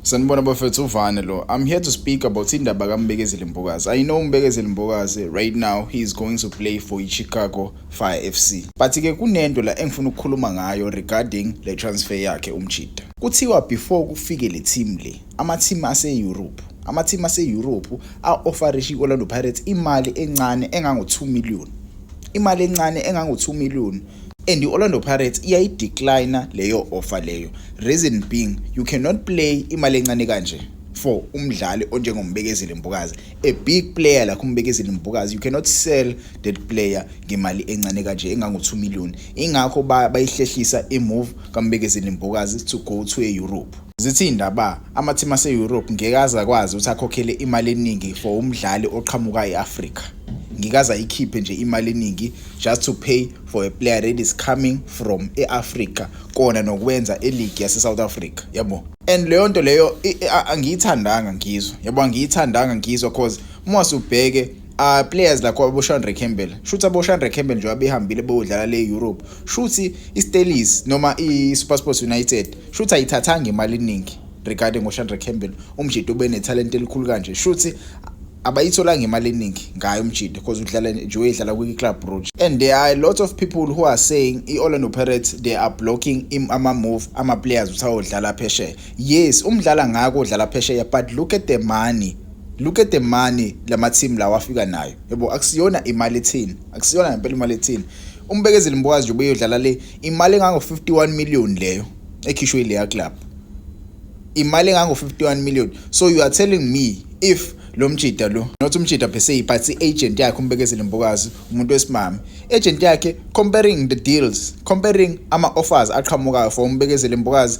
Sanibona bafethu uvane lo. I'm here to speak about indaba kaMbekezeli Mbokazi. I know uMbekezeli Mbokazi right now he is going to play for iChicago Fire FC. But ke kunento la engifuna ukukhuluma ngayo regarding le transfer yakhe uMchida. Kuthiwa before kufike le team le, ama team ase Europe amathimu ase-europe a-ofarisha i-orlando pirates imali encane engango-2 million imali encane engango-2 million and i-orlando pirates iyayideclina leyo offer leyo reason being you cannot play imali encane kanje for umdlali onjengombekezeli mbukazi a big player like umbekezeli mbukazi you cannot sell that player ngemali encane kanje engango-2 million ingakho bayihlehlisa imove kambekezeli mbukazi to go to e-europe Zithi iy'ndaba amathimu ase-Europe ngeke aze akwazi ukuthi akhokhele imali eningi for umdlali oqhamuka e-Afrika. Ngeke aze ayikhiphe nje imali eningi just to pay for a player that is coming from e-Afrika kona nokwenza eligi yase-South Africa yabo. And leyo nto leyo angiyithandanga ngizwa yabo angiyithandanga ngizwa cause uma usubheke uh, players lakho aboshandre campbell shuthi aboshandre campbell nje abehambile beyodlala le europe shuthi istelis noma i-supersports united shuthi ayithathanga imali eningi regarding ngoshandre campbell umjidi ubenethalente elikhulu kanje shuthi abayitholanga imali eningi ngayo umjidi because udlala nje uyedlala kwi-club rouge and there are a lot of people who are saying i-orlando pirates they are blocking ama-move ama-players ukuthi ayodlala phesheya yes umdlala ngako udlala phesheya but look at the money look at the money lama team lawa afika nayo yebo akusiyona imali ethini akusiyona ngempela imali ethini umbekezeli mbokazi nje ubeyodlala le imali engango 51 million leyo ekhishwe ileya club imali engango 51 million so you are telling me if lo mjida lo not umjida per se but i-agent yakhe umbekezeli mbokazi umuntu wesimame agent yakhe comparing the deals comparing ama-offers aqhamukayo for umbekezeli mbokazi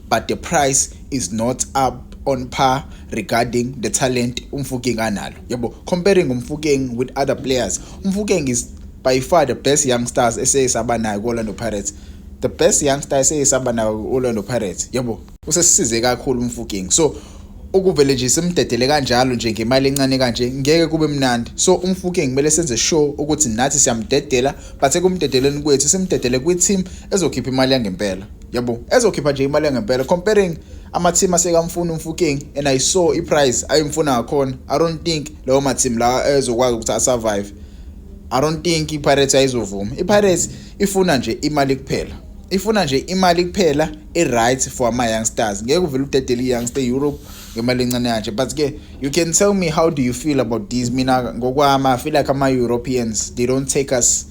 but the price is not up on par regarding the talent umfukeng analo yabo comparing umfukeng with other players umfukeng is by far the best young stars eseyisaba nayo ku-orlando pirates the best young star eseyisaba nayo ku-orlando pirates yabo usesisize kakhulu umfukeng so ukuvele nje simdedele kanjalo nje ngemali encane kanje ngeke kube mnandi so umfuke ngimele senze show ukuthi nathi siyamdedela but ekumdedeleni kwethu simdedele kwi-team ezokhipha imali yangempela yabo ezokhipha nje imali engempela comparing ama-team asekamfuni umfuking and i saw i-price ayimfuna ngakhona i don't think lawo ma-team lawa ezokwazi ukuthi asurvive i don't think i-pirates ayizovuma i-pirates ifuna nje imali kuphela ifuna nje imali kuphela i-right for ama-young stars ngeke uvele udedele i-young star europe ngemali encane kanje but-ke you can tell me how do you feel about this mina ngokwami i feel like ama-europeans they don't take us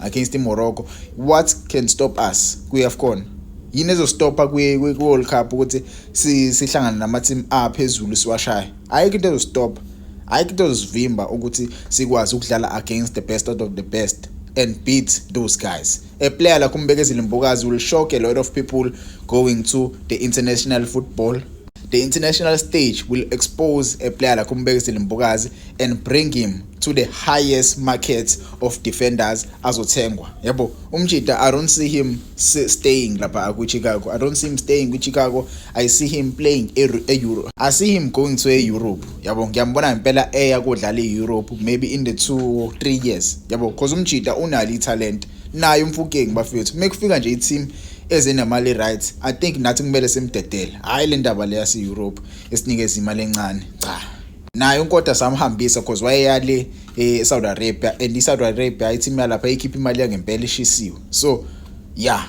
against iMorocco what can stop us kwi-AFCON yini ezostopha kwi-World Cup ukuthi sihlangane nama-team aphezulu siwashaye ayikho into ezostopha ayikho into ezosivimba ukuthi sikwazi ukudlala against the best out of the best and beat those guys a player like umbekezile mbokazi will shock a lot of people going to the international football the international stage will expose a player like umbekezile mbokazi and bring him to the highest market of defenders azothengwa yabo umjita i don't see him staying lapha ku Chicago i don't see him staying ku Chicago i see him playing e, e Europe i see him going to e Europe yabo ngiyambona ngempela eya kodlala e Europe maybe in the 2 3 years yabo because umjita unali talent naye umfukeng bafethu mekufika nje i team ezinamali right i think nathi kumele simdedele hayi le ndaba le yase Europe esinikeza imali encane cha naye unkota samhambisa because wayeyale eh, eSaudi Arabia and iSaudi Arabia ithi imali lapha ikhipha imali yangempela ishisiwe so yeah